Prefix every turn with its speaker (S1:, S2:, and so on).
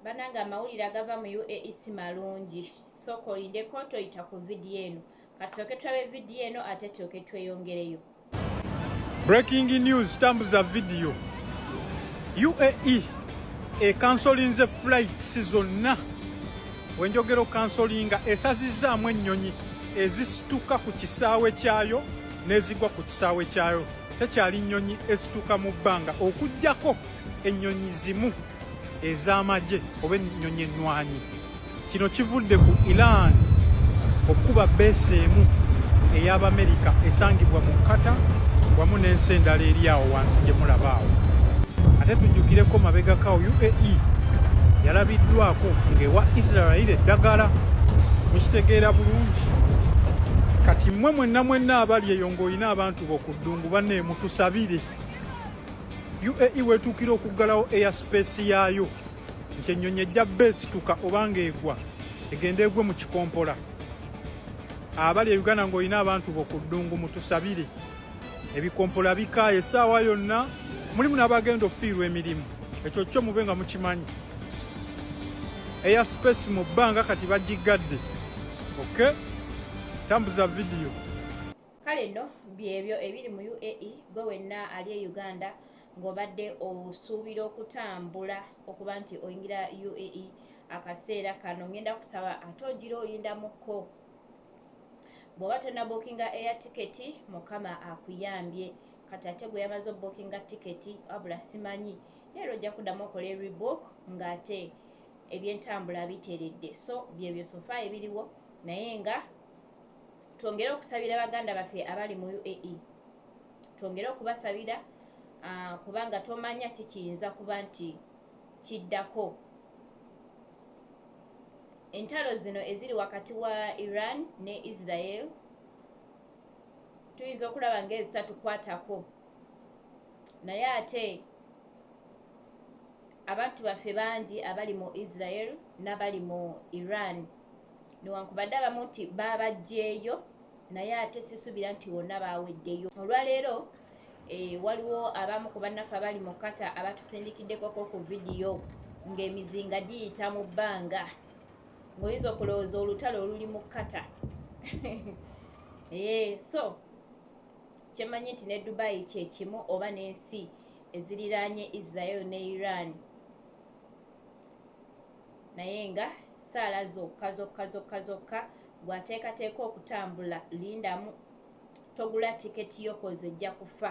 S1: banange amawulire agava mu uae si malungi sooka olindeko toyita ku vidiyo eno katusooke tulabe vidiyo eno ate tulyoke tweyongereyo
S2: breaking news tambuza vidiyo uae ekansolinze flights zonna wenjogera okansolinga esazizaamu ennyonyi ezisituka ku kisaawe kyayo n'ezigwa ku kisaawe kyayo tekyali nnyonyi esituka mu bbanga okugyako ennyonyi zimu ez'amagye oba ennyonyi ennwanyi. Kino kivudde ku Iran okukuba beesi emu ey'Abamerika esangibwa mu Kata wamu n'ensi endala eri awo wansi gye mulaba awo. Ate tujjukireko mabegakawo UAE yalabiddwako ng'ewa Israel eddagala mukitegeera bulungi. Kati mmwe mwenna mwenna abali eyo ng'olina abantu bo ku ddungu banne mutusabire. UAE wetuukira okuggalawo eya sipeesi yaayo nti ennyonyi ejja bba esituka oba ng'egwa egenda egwe mu kikompola abali e uganda ng'olina abantu bo ku ddungu mutusabire ebikompola bikaaye essaawa yonna mulimu n'abagenda okufiirwa emirimu ekyo kyo mube nga mukimanyi eya sipeesi mu bbanga kati bagiggadde oke tambuza vidiyo Kale nno
S1: byebyo ebiri mu UAE, ggwe wenna ali e Uganda ng'obadde osuubira okutambula okuba nti oyingira UAE akaseera kano ngenda kusaba ate ogira oyindamukko bw'oba tonna bookinga eya tiketi mukama akuyambye kati ate gwe yamaze obookinga tiketi wabula simanyi era ojja kuddamu okola eribook ng'ate ebyentambula biteredde so byebyo sofa ebiriwo naye nga twongere okusabira baganda baffe abali mu uae twongere okubasabira ah, kubanga tomanya kikiyinza kuba nti kiddako entalo zino eziri wakati wa iran ne israel tuyinza okulaba ngaezitatukwatako naye ate Abantu baffe bangi abali mu Israel n'abali mu Iran newankubadde abamu nti baabaggyeeyo naye ate sisuubira nti wonna baaweddeyo. Olwaleero eh, waliwo abamu ku bannaffe abali mu kata abatusindikiddekoko ku vidiyo ng'emizinga giyita mu bbanga ng'oyinza okulowooza olutalo oluli mu kata ee eh, so kyemanyi nti ne dubai kyekimu oba nensi eziriraanye israel ne iran naye nga saala zokka zokka zokka zokka gwateekateeka okutambula lindamu togula tiketi yokoze ejja kufa